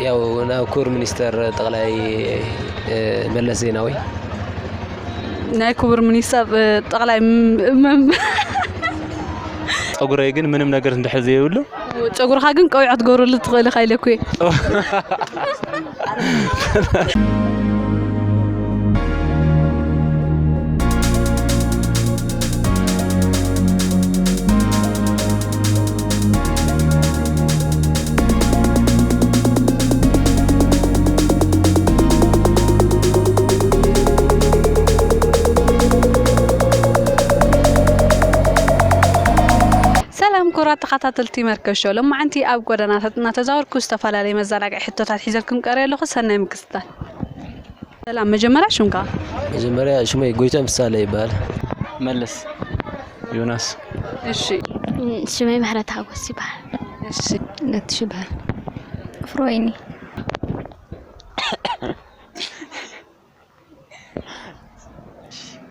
ያው ናብ ክቡር ሚኒስተር ጠቕላይ መለስ ዜናዊ ናይ ክቡር ሚኒስተር ጠቕላይ ፀጉረይ ግን ምንም ነገር እንድሕር ዘይብሉ ጨጉርኻ ግን ቀዊዖ ትገብረሉ ትኽእል ኢኻ ኢለኩ እየ ሰላም ኩቡራት ተኻታተልቲ መርከብ ሾው ሎማዓንቲ ኣብ ጎደናታት እናተዛወርኩ ዝተፈላለዩ መዘናግዒ ሕቶታት ሒዘልኩም ቀሪበ ኣለኹ ሰናይ ምክትታል ሰላም መጀመርያ ሽምካ መጀመርያ ሽመይ ጎይትኦም ፍሳሃለ ይበሃል። መልስ። ዮናስ። እሺ ሽመይ ምህረት ሓጎስ ይበሃል። እሺ ነትሽ ይበሃል። ፍሮወይኒ።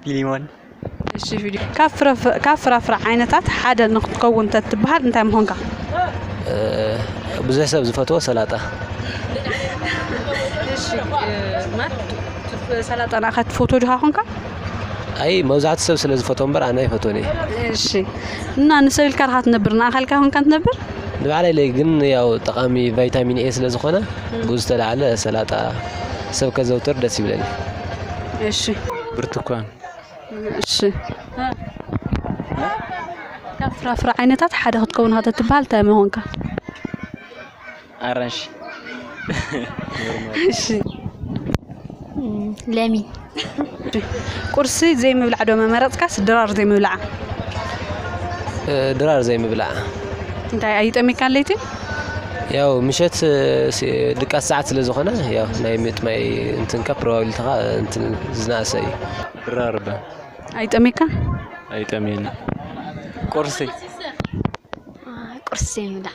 ፊሊሞን። እሺ ፊሊ ካብ ፍረ ካብ ፍራፍረ ዓይነታት ሓደ ንክትከውን ተትበሃል እንታይ ምኾንካ? ብዙሕ ሰብ ዝፈትዎ ሰላጣ። እሺ ማር ሰላጣ ንዓኻ ትፈትዎ ዲኻ ኮንካ? ኣይ መብዛሕትኡ ሰብ ስለ ዝፈትዎ እምበር ኣነ ኣይፈትዎን እየ። እሺ እና ንሰብ ኢልካ ድካ ትነብር ንኣካልካ ኮንካ ትነብር ንባዕለይ ለይ ግን ያው ጠቃሚ ቫይታሚን ኤ ስለ ዝኮነ ብኡ ዝተላዓለ ሰላጣ ሰብ ከዘውትር ደስ ይብለኒ። እሺ ብርቱኳን እሺ እ ካብ ፍራፍረ ዓይነታት ሓደ ክትከውን ኢካ ተትባሃል እንታይ ምኮንካ ኣራንሺ እሺ ለሚ ቁርሲ ዘይምብላዕ ዶ መመረፅካስ ድራር ዘይምብላዕ? ድራር ዘይምብላዕ እንታይ ኣይጠሚካን ለይቲ? ያው ምሸት ድቃስ ሰዓት ስለ ዝኾነ ያው ናይ ምጥማይ እንትንካ ፕሮባብሊቲኻ እንትን ዝነኣሰ እዩ። ድራር እባ ኣይጠሚካን? ኣይጠምየኒ ቁርሲ ቁርሲ ዘይምብላዕ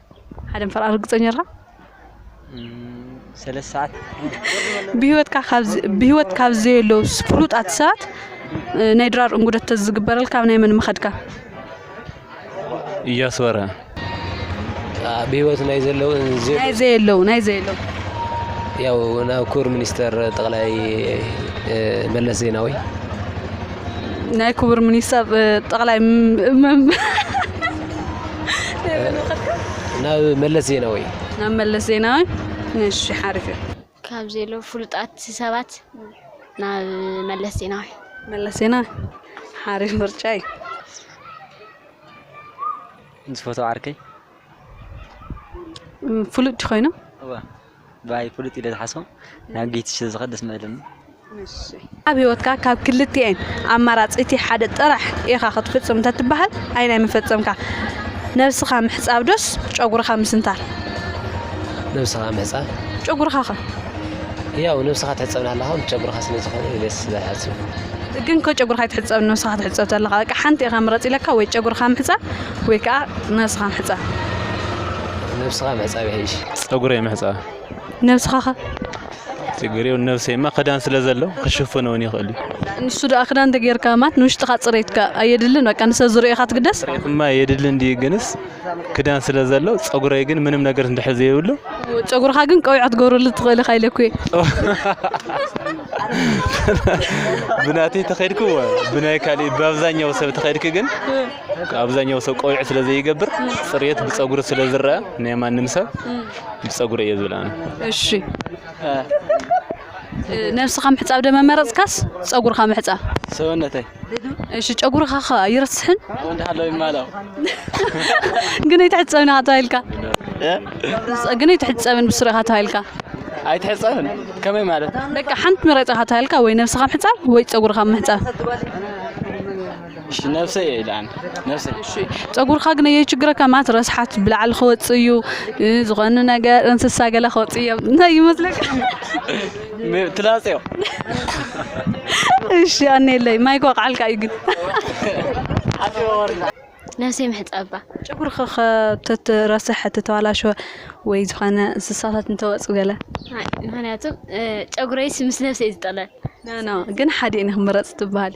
ሓደ ምሕር ኣርግጸኛ ድኻ? ሰለስተ ሰዓት ብሂወትካ ካብ ብሂወት ካብ ዘየለዉ ፍሉጣት ሰባት ናይ ድራር እንጉደት ተዝግበረልካ ኣብ ናይ መን ምኸድካ? እያሱ በርሀ ብሂወት ናይ ዘለዉ ዘ- ናይ ዘየለዉ ናይ ዘየለዉ ያው ናብ ክቡር ሚኒስተር ጠቕላይ እ፣ መለስ ዜናዊ ናይ ክቡር ሚኒስተር ጠቕላይ ናብ መለስ ዜናዊ ናብ መለስ ዜናዊ እሺ ሓሪፍ እዩ ካብ ዘለ ፍሉጣት ሰባት ናብ መለስ ዜናዊ መለስ ዜናዊ ሓሪፍ ምርጫ እዩ ምስ ፎቶ ዓርከይ ፍሉጥ ኮይኑ ባይ ፍሉጥ ኢለ ዝሓስቦ ናብ ጌትሽ ዝኸድ ደስ ምበለኒ። ኣብ ህይወትካ ካብ ክልቲኤን ኣማራጺ እቲ ሓደ ጥራሕ ኢኻ ክትፍጽም እንተትበሃል ኣየናይ ምፈጸምካ? ነብስኻ ምሕጻብ ዶስ ጨጉርኻ ምስንታር? ነብስኻ ምሕጻብ። ጨጉርኻ ከ? ያው ነብስኻ ትሕጸብ ናሃለኻ ምስ ጨጉርኻ ስለ ዝኾነ ኢለ ስለ ዝሓስብ። ግን ከ ጨጉርኻ ኣይትሕጸብን ነብስኻ ትሕጸብ ተለኻ በቃ ሓንቲ ኢኻ ምረጽ ኢለካ ወይ ጨጉርኻ ምሕጻብ ወይ ከኣ ነብስኻ ምሕጻብ። ነብስኻ ምሕጻብ ይሕይሽ። ጸጉረይ ምሕጻብ። ነብስኻ ከ? ችግር የብሉን ነብሰይማ ክዳን ስለ ዘሎ ክሽፍኖ ውን ይኽእል እዩ። ንሱ ደኣ ክዳን እንተ ጌርካ ማለት ንውሽጥኻ ጽሬት ከ ኣየድልን በቃ ንሰብ ዝርእዮ ኢኻ ትግደስ? ጽሬትማ የድሊ እንድዩ ግንስ ክዳን ስለ ዘሎ ጸጉረይ ግን ምንም ነገር እንድሕር ዘይብሉ ጨጉርኻ ግን ቀቢዕ ክትገብረሉ ትኽእል ኢኻ ኢለኩ እየ። ብናተይ ተኸድኩ እወ ብናይ ካልእ ብኣብዛኛው ሰብ ተኸድኩ ግን ኣብዛኛው ሰብ ቆቢዕ ስለ ዘይገብር ፅርየት ብፀጉሪ ስለ ዝረኣ ናይ ማንም ሰብ ብፀጉሪ እየ ዝብል ኣነ እሺ ነብስኻ ምሕፃብ ደመ መረፅካስ ፀጉርኻ ምሕፃብ ሰውነተይ እሺ ጨጉርኻ ኸ ኣይረስሕን እንዳሃለው ይማላው ግን ኣይትሕፀብን ኢኻ ተባሂልካ ግን ኣይትሕፀብን ብስሩ ኢኻ ተባሂልካ ኣይትሕፀብን ከመይ ማለት በቃ ሓንቲ ምረፅ ኢኻ ተባሂልካ ወይ ነብስኻ ምሕፃብ ወይ ፀጉርኻ ምሕፃብ እሺ ነብሰይ እየ ኢለ ኣነ ነብሰይ እሺ ፀጉርካ ግን የችግረካ ማለት ረስሓት ብላዕሊ ክወፅእ እዩ እ፣ ዝኾነ ነገር እንስሳ ገለ ክወፅእ እዮም እንታይ ይመስለካ ብ- ትላፅዮ እሺ ኣነ የለይ ማይ ክወቅዓልካ እዩ ግን ነብሰይ ምሕፃባ ጨጉርካ ከተትረስሕ ተተባላሸወ ወይ ዝኾነ እንስሳታት እንተወፁ ገለ ኣይ፣ ምክንያቱ እ፣ ጨጉረይስ ምስ ነብሰይ ዝጠለል ኖ ኖ ግን ሓዲኤን ክምረፅ ትበሃል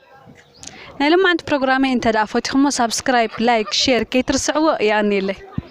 ናይ ሎማዓንቲ ፕሮግራመይ እንተ ፎቲኹሞ ሳብስክራይብ ላይክ ሼር ከይትርስዕዎ የቀንየለይ።